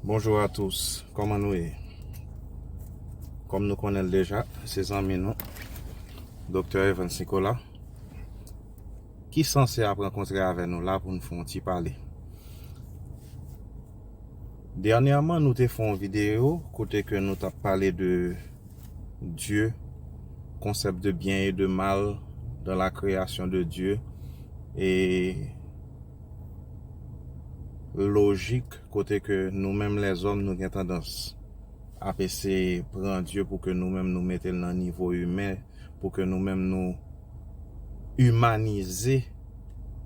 Bonjour à tous kòman nou ye kòm nou konnen l deja se zanmi nou Doktè Evans Nicolas ki sanse ap rankontre avè nou la pou nou fè yon ti pale dènyèman nou te fè yon videyo kote ke nou tap pale de Dye konsèp de byen e de mal dan la kreyasyon de Dye e lojik kote ke nou menm lèzòm nou gen tandans ap eseye pran Dye pou ke nou menm nou mete l nan nivo imen, pou ke nou menm nou imanize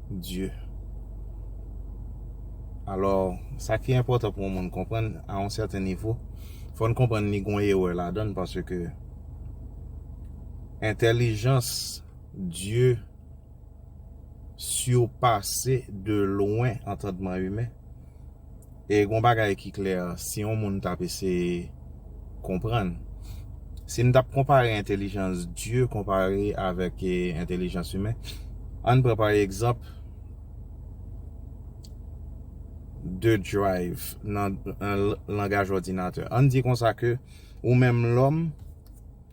Dye. Alò, sa ki enpòtan pou yon moun konprann a yon sèten nivo, fò n konprann li gon erè ladan l paske entèlijans Dye. sirpase de lwen antandman imen. E gon bagay ki klè, si yon moun tap eseye konprann, si n tap konpare entelijans Dye konpare avèk entelijans imen, ann pran pa egzanp 2 drive nan langaj òdinatè. Ann di konsa ke ou menm lòm.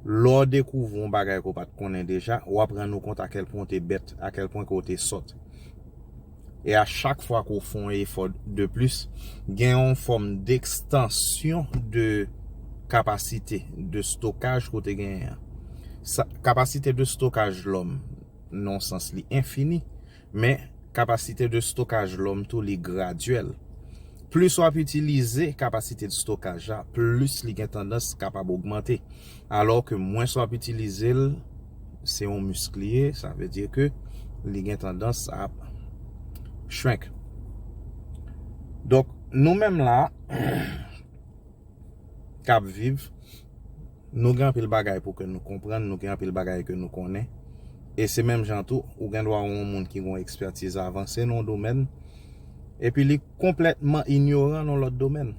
Lè w dekouvri yon bagay ke w pa t konnen deja, w ap rann ou kont akèlpwen ou te bèt, akèlpwen ke w te sòt. E a chak fwa ke w fè yon efò de plis, gen yon fòm dekstansyon de kapasite de stokaj ke w te genyen an. Kapasite de stokaj lòm nan yon sans li enfini. Men, kapasite de stokaj lòm tou li gradyèl. Plis w ap itilize kapasite de stokaj a, plis li gen tandans kapab ogmante. Alò ke mwens w ap itilize l, se yon misk li ye, sa vle di ke li gen tandans ap shrink. Donk, nou menm la, k ap viv. Nou gen anpil bagay pou ke nou konprann, nou gen anpil bagay ke nou konnen. E se menm jan tou, ou gen dwa ou yon moun ki gen yon ekspertiz avanse nan yon domèn, epi li konplètman inyoran nan yon lòt domèn.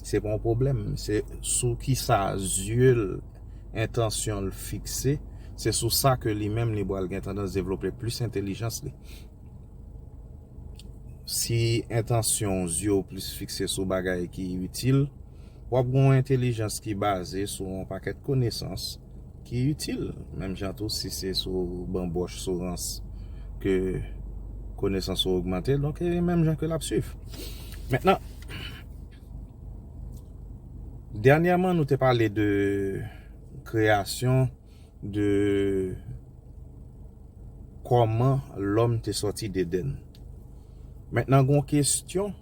Se pa yon pwoblèm, se sou ki sa zye l, entansyon l fikse, se sou sa ke li menm li pral gen tandans devlope plis entelijans li. Si entansyon w yo plis fikse sou bagay ki itil, w ap gen yon entelijans ki baze sou yon pakèt konesans ki itil. Menm jan tou, si se sou banbòch, sou rans ke konesans ou ogmante, donk e menm jan ke l ap swiv. Mentnan, dènyèman nou te pale de kreyasyon. de kòman lòm te sòti dedenn mentnan gon kestyon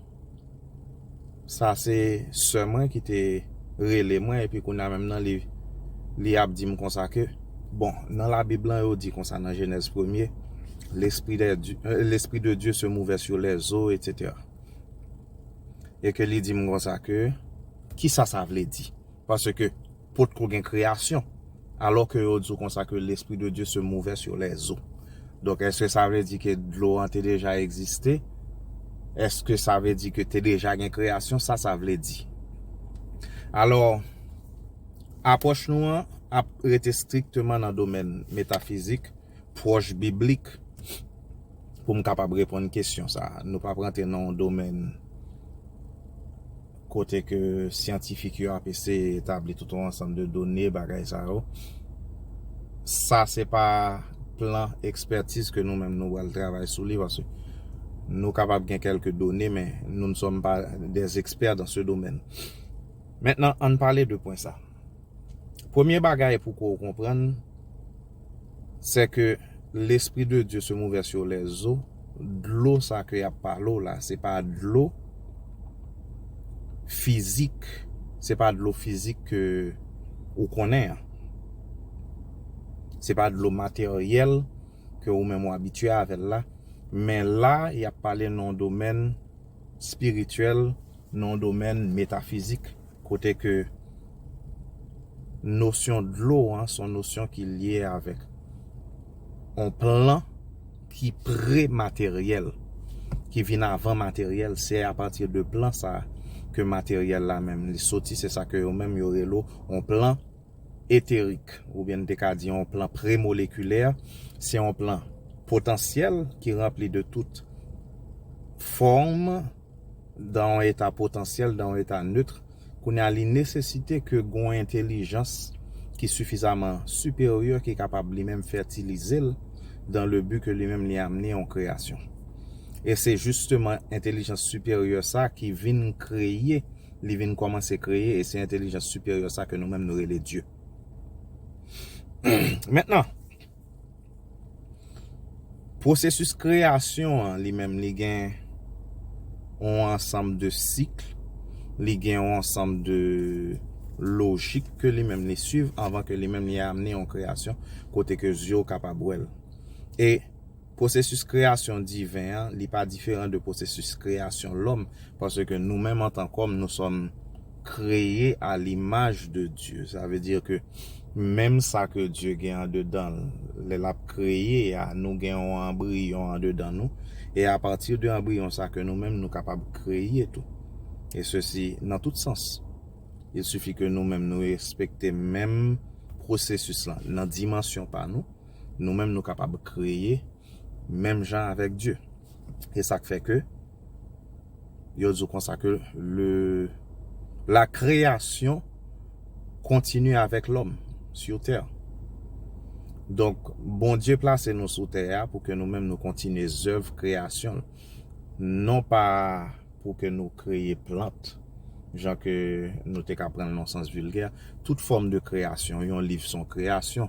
sa se sè mwen ki te rele mwen epi kounya menm nan li li ap dim konsa ke bon nan la bib lan yo di konsa nan jenèz premye lespri dè di lespri de Dye se move sou lè zo etc e ke li dim konsa ke kisa sa vle di. Paske, potko gen kreyasyon. Alò ke yo di w konsa ke Lespri de Dye se move sur les eaux. Donk, èske sa vle di ke dlo an te deja egziste? Èske sa vle di ke te deja gen kreyasyon? Sa sa vle di? Alò, apwòch nou an ap rete strikteman nan domèn metafizik. pwòch biblik pou m kapab reponn kesyon sa a. Nou pap rantre nan yon domèn kote ke syantifik yo ap eseye etabli tout yon ansanm de done, bagay sa yo. Sa se pa plan ekspètiz ke nou menm nou pral travay sou li paske nou kapab gen kèlke done men nou ne sommes pas des experts dans ce domaine. Mentnan, ann pale de pwen sa. Premye bagay pou ke w konprann, Sè ke Lespri de Dye se mouve sur les zo, dlo sa ke yap pale w la, se pa dlo fizik, se pa dlo fizik ke ou konnen an. Se pa dlo materyèl ke ou menm ou abitye avè l la, men la yap pale nan yon domèn spirityèl, nan yon domèn metafizik. kote ke nosyon dlo an son nosyon ki lye avèk on plan ki pre-materyèl, ki vin avan materyèl, se a pati de plan sa a ke materyèl la menm li soti, se sa ke yo menm yo relo on plan eterik, ou byen n te ka di on plan pre-molekilè, se on plan potansyèl ki ranpli de tout fòm. dan yon eta potansyèl, dan yon eta neutre, kounye a li nesesite ke gon yon entelijans ki sifizaman siperyè ki kapab li menm fètilize l dan le bi ke li menm li amne yon kreyasyon. E se jisteman entelijans siperyè sa ki vin kreye, li vin kòmanse kreye e se entelijans siperyè sa ke nou menm nou rele Dye. Mentnan! Pwosesis kreyasyon an li menm li gen yon ansanm de sik, li gen yon ansanm de lojik ke li menm li swiv anvan ke li menm li amène yon kreyasyon kote ke zye w kapab wè l. E pwosesis kreyasyon diven an li pa diferan de pwosesis kreyasyon lòm paske nou menm antan kòm nou sòm kreye a limaj de Dye. Sa vle di ke menm sa ke Dye gen andedan l, lè l ap kreye a, nou gen yon anbriyon andedan nou, e apati de anbriyon sa ke nou menm nou kapab kreye tou. E sesi nan tout sans. Il sifi ke nou menm nou respekte menm pwosesis lan nan dimansyon pa nou, nou menm nou kapab kreye menm jan avèk Dye. E sa k fè ke. Yo di w konsa ke le la kreyasyon kontinye avèk lòm sur tè. Donk Bondye plase nou sou tè a pou ke nou menm nou kontinye zèv kreyasyon l. Non pa pou ke nou kreye plant, jan ke nou te ka pran l nan sans vilgè. Tout fòm de kreyasyon, yon liv s on kreyasyon.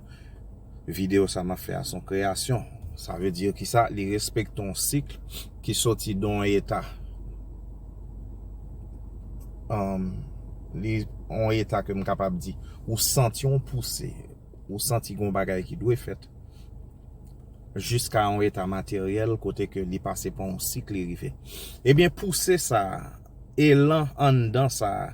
Video sa map fè a son kreyasyon. Sa vle di ki sa? Li respekte yon sik ki soti de yon eta li yon eta ke m kapab di ou santi yon pouse ou santi gen yon bagay ki dwe fèt jiska yon eta materyèl kote ke li pase pa yon sik li rive. Ebyen pouse sa elan anndan sa.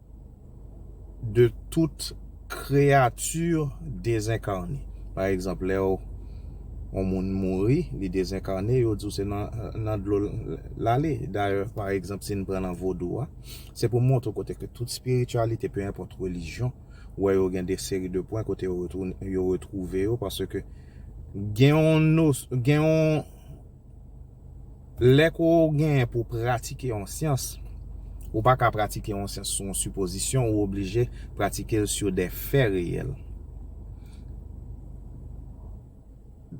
de tout kreyati dezenkarne. Pa egzanp, lè yon moun mouri, li dezenkarne, yo di w se nan dlo l ale. Dayè, pa egzanp, si n pran nan vodou a, se pou montre w kote ke tout espirityalite, pe enpòt relijyon, ou wè yo gen de seri de pwen kote yo retwouve yo, paske gen yon nos, gen yon. Lè ke w genyen pou w pratike yon syans, ou pa ka pratike yon syans sou yon sipozisyon, ou oblije pratike l sou de fè reyèl.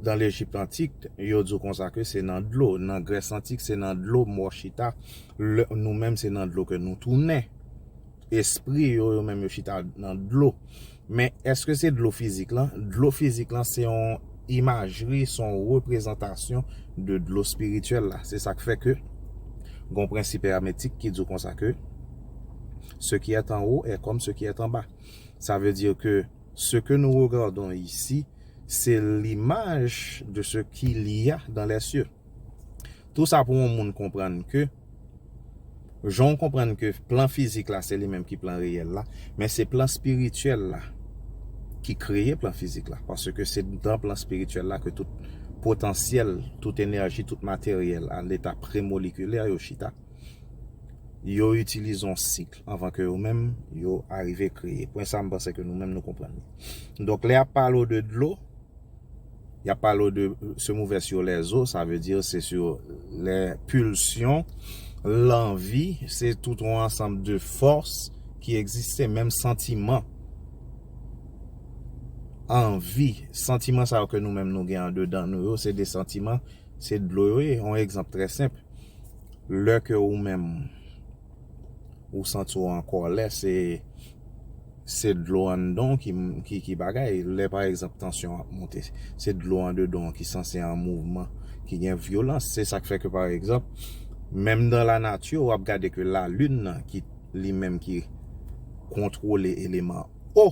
Nan Lejip antik, yo di w konsa ke se nan dlo, nan Grès antik se nan dlo mò chita, nou menm se nan dlo ke nou tounen. Espri yo, yo menm yo chita nan dlo. Men, èske se dlo fizik lan? Dlo fizik lan se yon imajri, se yon reprezantasyon de dlo espirityèl la. Se sa k fè ke gen yon prensip èmetik ki di w konsa ke, Ce qui est en haut est comme ce qui est en bas. Sa vle di ke ce que nous regardons ici, se l'image de ce qu'il y a dans les cieux. Tou sa pou yon moun konprann ke jan w konprann ke plan fizik la se li menm ki plan reyèl la, men se plan espirityèl la ki kreye plan fizik la. Paske se nan plan espirityèl la ke tout potansyèl, tout enèji, tout materyèl a leta premolikilè yo chita. Yo itilize yon sik anvan ke yo menm yo arive kreye. Pwen sa m panse ke nou menm nou konprann li. Donk lè y ap pale w de dlo. Yap pale w de se mouve sur les os sa vle di se sur lè pulsion lanvi se tout yon ansanm de fòs ki egziste menm santiman anvi santiman sa yo ke nou menm nou gen andedan nou yo se de santiman se dlo yo ye yon egzanp trè senp lè ke ou menm ou santi w an kòlè se dlo anndan w ki bagay lè pa egzanp tansyon ap monte se dlo andedan w ki sanse an mouvman ki gen vyolans se sa k fè ke pa egzanp menm nan la nati w ap gade ke la lin nan ki li menm ki kontwole eleman o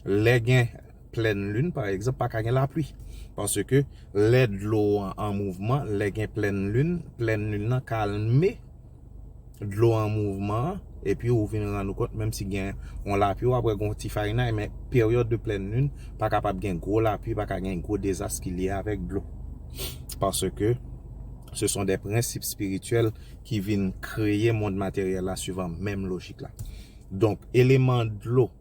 Lè gen plèn lin pa egzanp pa ka gen lapli paske lè dlo an an mouvman lè gen plèn lin, plèn lin nan kalme dlo an mouvman an epi ou vin rann ou kont menm si gen yon lapli wap wè gen yon ti farinay men peryòd de plèn lin pa kapab gen gwo lapli pa ka gen gwo dezas ki lye avèk dlo paske se son de prensip espirityèl ki vin kreye mond materyèl la suivan menm lojik la donk eleman dlo.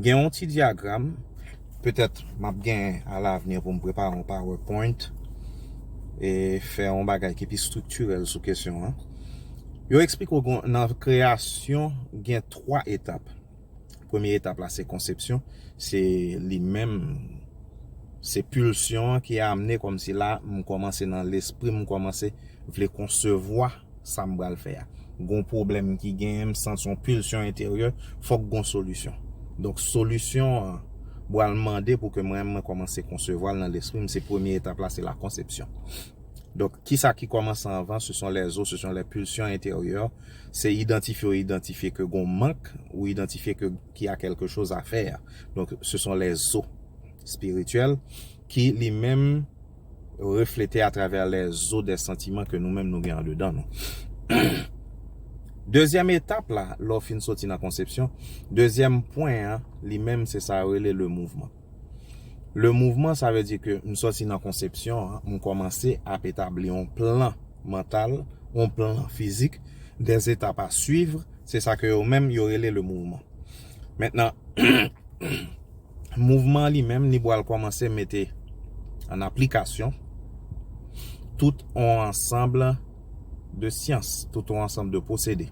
Gen yon ti dyagram, petèt m ap gen a lavni pou m prepare yon powerpoint e fè yon bagay ki pi estriktirèl sou kesyon an. Yo eksplike w nan kreyasyon gen 3 etap. Premye etap la se konsepsyon, se li menm, se pilsyon an ki amne kòmsi la m kòmanse nan lespri m kòmanse vle konsevwa. Sam pral fè a. Gon pwoblèm ki genyen m santi yon pulsion enteryè fòk gon solisyon. Donk solisyon an bwal mande pou ke mwen menm mwen kòmanse konsevwa l nan lespri m se premye etap la se la konsepsyon. Donk kisa ki kòmanse anvan se son lè zo se son lè pulsion enteryè se idantifye ou idantifye ke gon mank ou idantifye ke ki a kèlke choz a fè a. Donk se son lè zo spirityèl ki li menm. reflete atravè lèzo dè santiman ke nou menm nou gen andedan nou. Dezyèm etap la, lè w fin soti nan konsepsyon, dezyèm pwen an, li menm se sa yo rele le mouvman. Le mouvman sa vle di ke m soti nan konsepsyon an, m kòmanse ap etabli yon plan mantal, yon plan fizik, dè etap a suivre, se sa ke yo menm yo rele le mouvman. Mentnan. Mouvman an li menm li bwal kòmanse mete an aplikasyon tout on ansanb de syans, tout on ansanb de pwosede.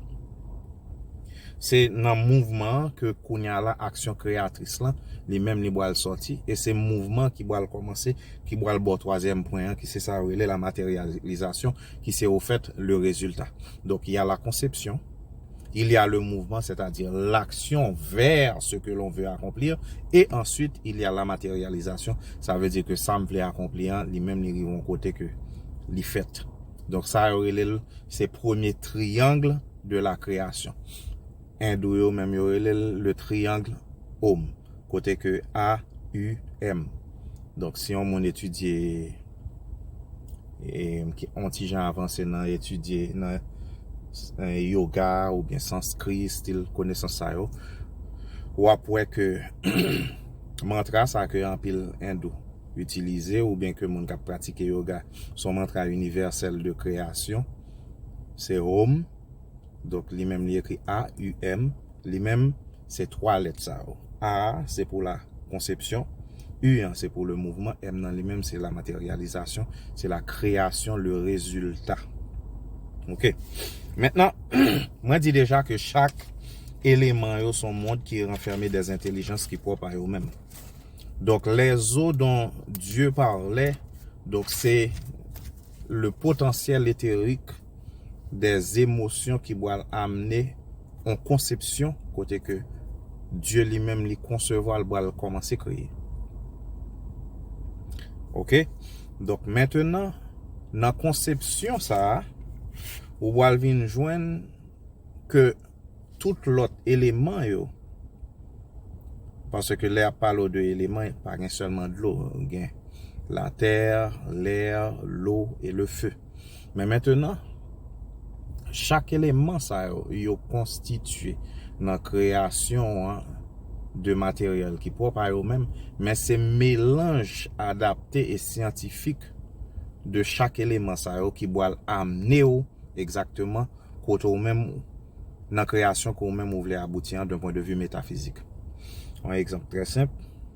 Se nan mouvman an ke kounya la aksyon kreyatris lan li menm li bwal sòti e se mouvman ki bwal kòmanse ki bwal ba w twazyèm pwen an ki se sa yo rele la materyalizasyon ki se ofèt le rezilta. Donk ya la konsepsyon. Il y a le mouvement, c'est-à-dire l'action vers ce que l'on veut accomplir, et ensuite il y a la matérialisation, ça veut dire que sa m vle akonpli an, li menm li rive yon kote ke li fèt. Donk sa yo rele l, se premye triangle de la création. Endou yo menm yo rele l le triangle Om, kote ke A, U, M. Donk si yon moun etidye. On ti jan avanse nan etidye nan yoga ou byen sanskri, stil konesans sa yo. Ou ap wè ke mantra sa ke anpil endou itilize ou byen ke moun kap pratike yoga son mantra inivèsèl de kreyasyon. Se Om, donk li menm li ekri A-U-M. Li menm, se twa lèt sa yo. A a se pou la konsepsyon, U an se pou le mouvman, M nan li menm se la materyalizasyon, se la kreyasyon, le rezilta. Ok. Mentnan, mwen di deja ke chak eleman yo son mond ki ranfème de entelijans ki pwòp a yo menm. Donk, les eaux dont Dieu parlait, donk se le potentiel éthérique, de zemosyon ki bwal amne on konsepsyon kote ke Dye li menm li konsevwa l bwal komanse kreye. Ok, donk mentenan nan konsepsyon sa a, ou bwal vin jwenn ke tout lot eleman yo, pase ke lè yap pale w de eleman, pa gen selman dlo, gen la tè, lè, lo, e le fe. Men mentenan, chak eleman sa yo, yo konstitye nan kreyasyon an de materyèl ki pwòp a yo menm, men se melanj adapte e syantifik de chak eleman sa yo ki bwal amne ou egzakteman kote ou menm ou, nan kreyasyon ke ou menm ou vle abouti an, d'un pwen de vi metafizik. Yon egzanp trè senp.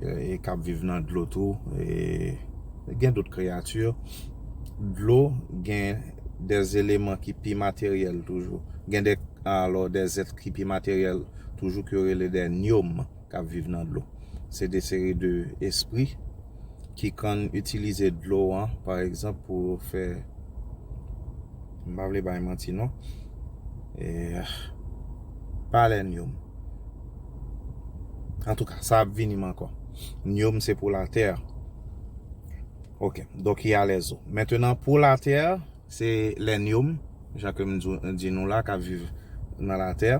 e k ap viv nan dlo tou e gen dout kreyati dlo gen de eleman ki pi materyèl toujou gen de alò de zèt ki pi materyèl toujou ki yo rele de nyom k ap viv nan dlo se de seri de espri ki konn itilize dlo an pa egzanp pou yo fè m pa vle bay manti non e pa lè nyom Antouka, sa ap vini m ankò. Nio m se pou latè. Ok, donk y alèz ou. Mentenan pou latè, se lè nio m, jan ke m di nou la k ap viv nan latè,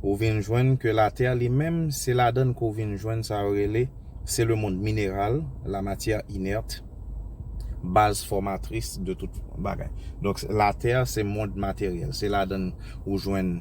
ou vin jwenn ke latè li menm se ladan l ke w vin jwenn sa yo rele, se le mond mineral, la matière inerte, baz fòmatris de tout bagay. Donk latè se mond materyèl, se ladan l ou jwenn.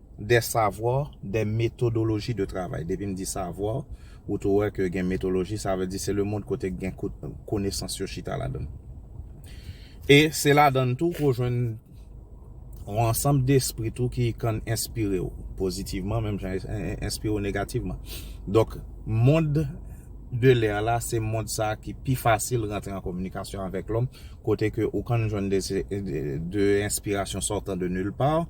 Des savoirs, des méthodologies de travail. Depi m di savoir, ou tou wè ke gen metodoloji, sa vle di se le mond kote gen konesans yo chita ladan l. E se ladan l tou ke w jwenn yon ansanm despri tou ki kab enspire w pozitivman menm jan e enspire w negativman. Donk, mond de l'air la, se mond sa ki pi fasil rantre an kominikasyon avèk lòm, kote ke ou kab jwenn de enspirasyon sortant de nulle part.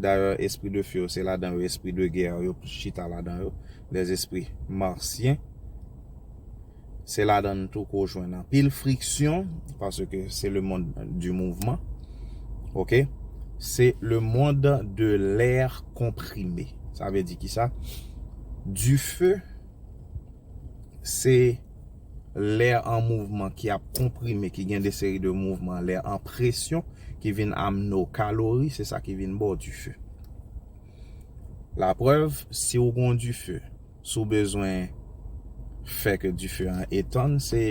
Dayè espri de feu yo se ladan yo espri de guerre yo chita ladan yo, les esprits martiens. Se ladan l tou ke w jwenn anpil friksyon paske se le mond du mouvman ok. Se le mond de l'air comprimé sa vle di kisa? Du feu se. lè an mouvman ki ap konprime ki gen de seri de mouvman lè an presyon ki vin amne w kalori se sa ki vin ba w dife la prèv si w gon dife si w bezwen fè ke dife an etann se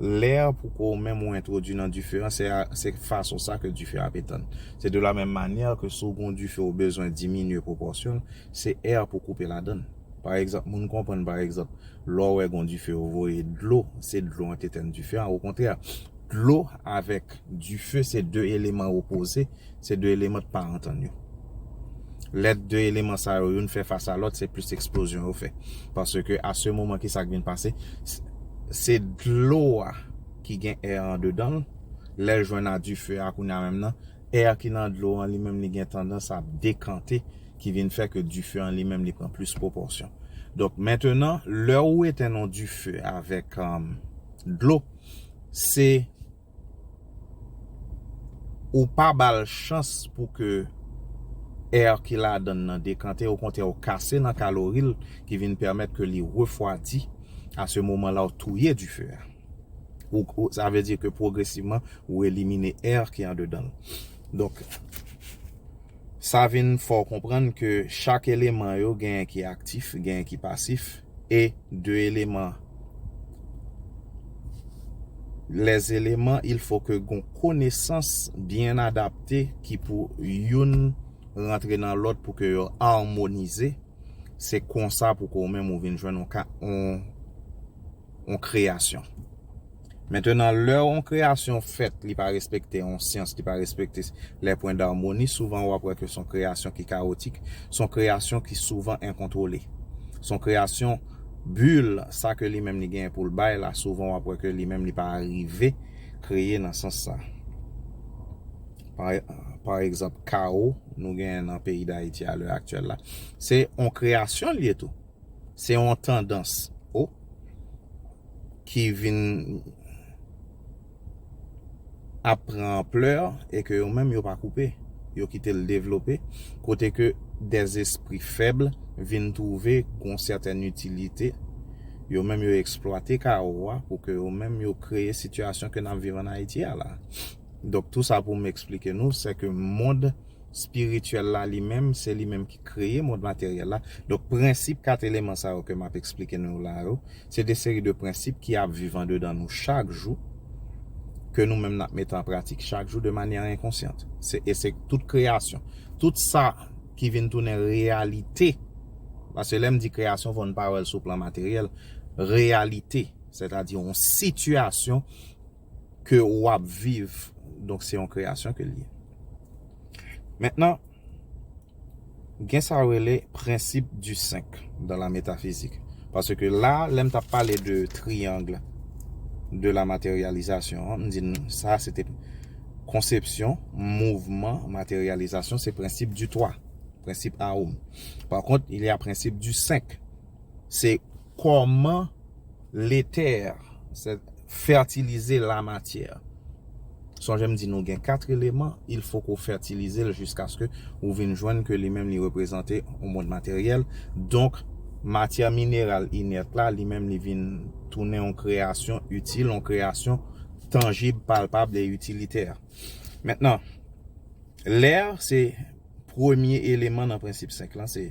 lè pou ko w menm ou entwodui nan dife an se fason sa ke dife ap etann se de la menm manyè ke si w gon dife ou bezwen diminye pwopòsyon l se è pou koupe ladann. Pa egzanp, moun konprann pa egzanp, lè w wè gen yon dife yo voye dlo, se dlo an ki etèn dife an. Okontrè, dlo avèk dife se de eleman opoze, se de eleman ki pa antann yo. Lè de eleman sa yo youn fè fas a lòt, se plis eksplozyon yo fè. Paske a se moman ki sa ki vin pase, se dlo a ki gen è a andedan l, lè l jwenn a dife a kounya menm nan, Air ki nan dlo an li menm li gen tandans ap dekante ki vin fè ke dife an li menm li pran plis pwopòsyon. Donk mentenan lè ou etenn yon dife avèk dlo se ou pa ba l chans pou ke air ki ladan l nan dekante okontrè ou kase nan kalori l ki vin pèmèt ke li refwadi a se moman la ou touye dife a. ou sa vle di ke pwogresivman ou elimine air ki andedan l donk sa vin fè w konprann ke chak eleman yo genyen ki aktif genyen ki pasif e de eleman les éléments il faut ke gon konesans byen adapte ki pou youn rantre nan lòt pou ke yo armonize. Se konsa pou ke ou menm ou vin jwenn yon ka, yon, yon kreyasyon. Mentenan, lè yon kreyasyon fèt, li pa respekte yon syans, li pa respekte les points d'harmonie, souvan ou ap wè ke son kreyasyon ki kawotik, son kreyasyon ki souvan enkontwole. Son kreyasyon bull, sa ke li menm li genyen pou l bay la, souvan ou ap wè ke li menm li pa rive kreye nan sans sa. pa egzanp kawo nou genyen nan peyi dayiti a lè aktyèl la se yon kreyasyon li ye tou se yon tandans o ki vin ap pran anplè e ke yo menm yo pa koupe yo kite l devlope kote ke des espri fèb vin twouve yon sètèn itilite yo menm yo eksplwate kawo a pou ke yo menm yo kreye sitiyasyon ke n ap viv an ayiti a la. Donk tou sa pou m eksplike nou, sè ke mond espirityèl la li menm, se li menm ki kreye mond materyèl la. Donk prensip kat eleman sa yo ke m ap eksplike nou yo la yo, se de seri de prensip ki ap viv andedan nou chak jou, ke nou menm n ap mete an pratik chak jou de manyè enkonsyant. Se e se tout kreyasyon, tout sa ki vin tounen reyalite, paske lè m di kreyasyon fò n pa wè l sou plan materyèl, reyalite, sètadi yon sitiyasyon ke ou ap viv donk se yon kreyasyon ke li ye mentnan gen sa yo rele prensip di 5 dan la metafizik paske la lèm tap pale de triyang de la materyalizasyon an m di nou sa se te konsepsyon mouvman materyalizasyon se prensip di 3 prensip awoum pa kont ilya prensip di 5 Se comment le terre fertiliser la matière. Sonje m di nou gen 4 eleman, il faut ke w fertilize l jiskaske ou vin jwenn ke li menm li reprezante yon mond materyèl. Donk, matyè mineral inèt la, li menm li vin tounen yon kreyasyon itil, yon kreyasyon tanjib, palpab e itilitè. Mentnan, lè se Premye eleman nan prensip 5 lan se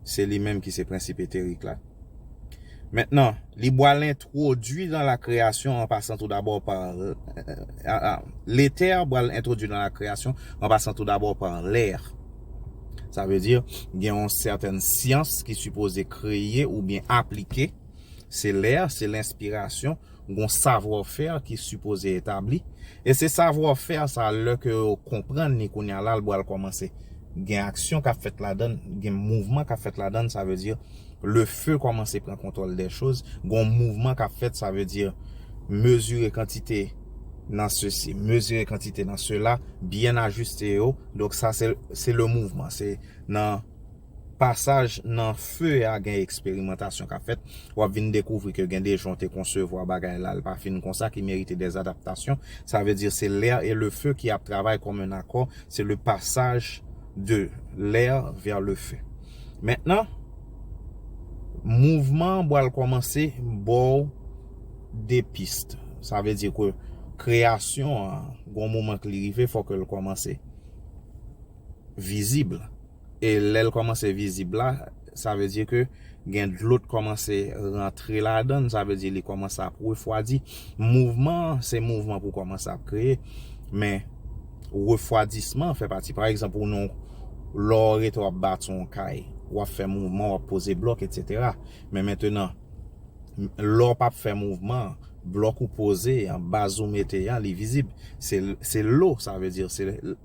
se li menm ki se prensip eterik la. Mentnan, li bwal entwodui nan la kreyasyon an pasan tou dabò pa Letè bwal entwodui nan la kreyasyon an pasan tou dabò pa lè. Sa vle di, gen yon sèten syans ki sipoze kreye oubyen aplike. Se lè, se lenspirasyon Gon savoir faire ki sipoze etabli, e se savoir faire sa lè ke yo konprann li kounya la l bwal kòmanse gen aksyon kap fèt ladann, gen mouvman kap fèt ladann sa vle di le feu kòmanse pran kontwòl dè choz, gon mouvman kap fèt sa vle di mezire kantite nan sesi, mezire kantite nan sela, byen ajiste yo, donk sa se le mouvman, se nan. Pasaj nan feu a gen eksperimantasyon kap fèt, wap vin dekouvri ke gen de jan w te konsevwa bagay la, l pa fin konsa ki merite des adaptations, sa vle di se l'air et le feu ki ap travay kòm un accord, se le passage de l'air vers le feu. Mentnan, mouvman an bwal kòmanse bò w de pist, sa vle di ke kreyasyon an gon moman ke li rive fò ke l kòmanse vizib. E lèl kòmanse vizib la, sa vle di ke gen dlo t kòmanse rantre ladann, sa vle di li kòmanse ap refwadi. Mouvman an, se mouvman pou kòmanse ap kreye, men refwadisman an fè pati. Pa egzanp, ou nan yon, lè w rete w ap bati yon kay, w ap fè mouvman, w ap poze blòk, etsetera. Men mentenan, lè w pa p fè mouvman, blòk ou poze an, baz ou mete an, li vizib. Se lou, sa vle di se.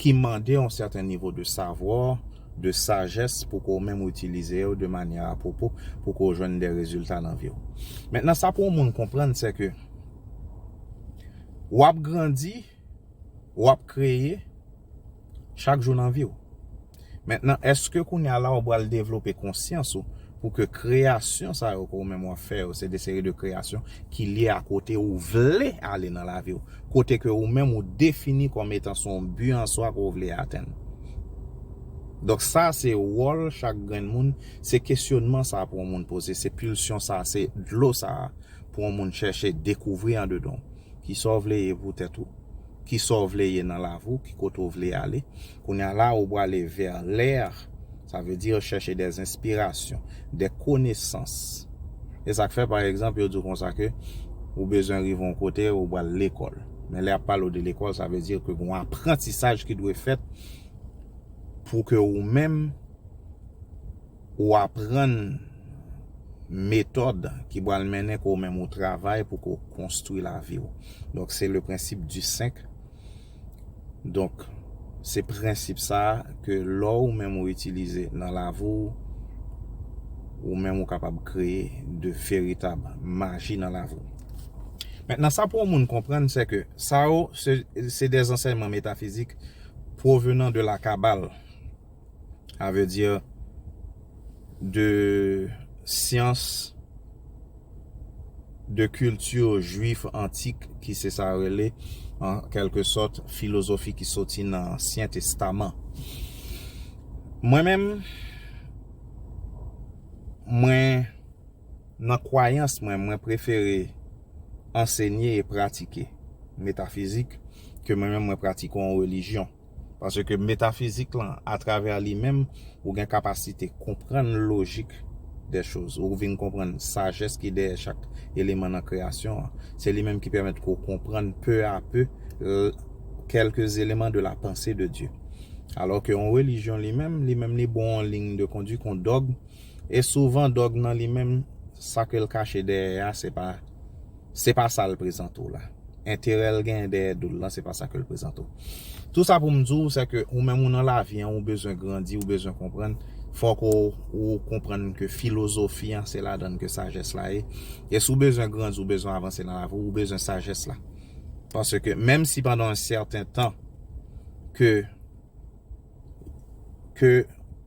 ki mande yon sèten nivo de savwa, de sajès pou ke w menm ou itilize yo de manyè a pwopo pou ke w jwenn de rezilta nan vi w. Mentnan sa pou yon moun konprann se ke w ap grandi, w ap kreye chak jou nan vi w. Mentnan eske kounya la ou bal devlope konsyans ou pou ke kreyasyon sa yo ke ou menm wap fè yo se de seri de kreyasyon ki lye a kote ou vle ale nan lavi ou, kote ke ou menm ou defini kòm etan se yon bi an swa ke ou vle atenn. Donk sa se wòl chak grenn moun, se kesyonman sa pou yon moun poze, se pilsyon sa, se dlo sa pou yon moun chèche dekouvri andedan ou. Kisa ou vle ye pou tèt ou? Kisa ou vle ye nan lavi ou? Ki kote ou vle ale? Kounya la ou prale vers l'air, ça veut dire chercher des inspirations, des connaissances. E sa k fè par exemple yo di w konsa ke ou bezwen rive yon kote ou pral lekòl. Men lè y ap pale w de lekòl ça veut dire ke gon aprantisaj ki dwe fèt pou ke ou menm ou aprann metòd ki pral mennen ke ou menm ou travay pou ke w konstwi lavi w. Donk se le principe du 5. Donk, se prensip sa a ke lò ou menm ou itilize nan lavi w, ou menm ou kapab kreye de veritab maji nan lavi w. Mentnan, sa pou yon moun konprann se ke sa yo se de zansèyman metafizik pwovenan de la Kabal. Sa vle di de syans de kilti jwif antik ki se sa yo rele an kelke sòt filozofi ki soti nan ansyen testaman. Mwen menm mwen nan kwayans mwen mwen prefere ansenye e pratike metafizik ke mwen menm mwen pratike yon relijyon. Paske metafizik lan, atravè li menm, ou gen kapasite konprann lojik dè choz. Ou vin konprann sajès ki dèyè chak eleman nan kreyasyon an. Se li menm ki pèmèt ke w konprann peu à peu quelques éléments de la pensée de Dieu. Alò ke yon relijyon li menm, li menm li ba w yon ligne de conduite, yon dogme, e souvan dogme nan li menm, sa ke l kache dèyè a, se pa. Se pa sa l prezante w la. Enterè l genyen dèyè do l lan, se pa sa ke l prezante w. Tou sa pou m di w, sèke ou menm ou nan lavi an, ou bezwen grandi, ou bezwen konprann, fòk ou konprann ke filozofi an, se ladan l ke sajès la ye. E si w bezwen grandi, ou bezwen avanse nan lavi w, ou bezwen sajès la. Paske menm si pandan yon sèten tan ke ke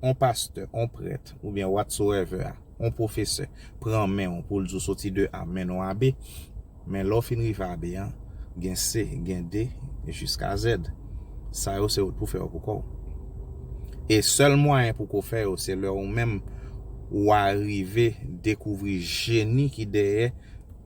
on pastè, on prèt oubyen whatsoever, on pwofesè pran men w pou l di w soti de A mennen w AB, men lè w fin rive AB an, gen C, gen D, jiska Z. Sa yo se ou pou fè yo pou kò w. E sèl mwayen pou ko fè yo se lè ou menm ou arive dekouvri jeni ki dèyè.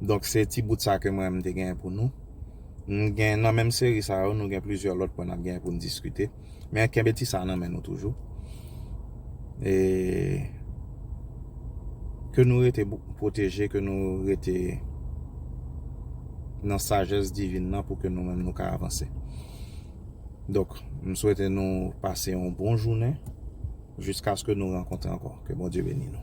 Donk se ti bout sa ke mwen menm m te genyen pou nou. M gen nan menm seri sa yo nou gen plizyè lòt pwen n ap genyen pou n diskite. Men kenbe ti sa nan men nou toujou. E ke nou rete pwoteje, ke nou rete nan sajès divin nan pou ke nou menm nou ka avanse. Donk m swete nou pase yon bon jounen jiskaske nou rankontre ankò. Ke Bondye beni nou.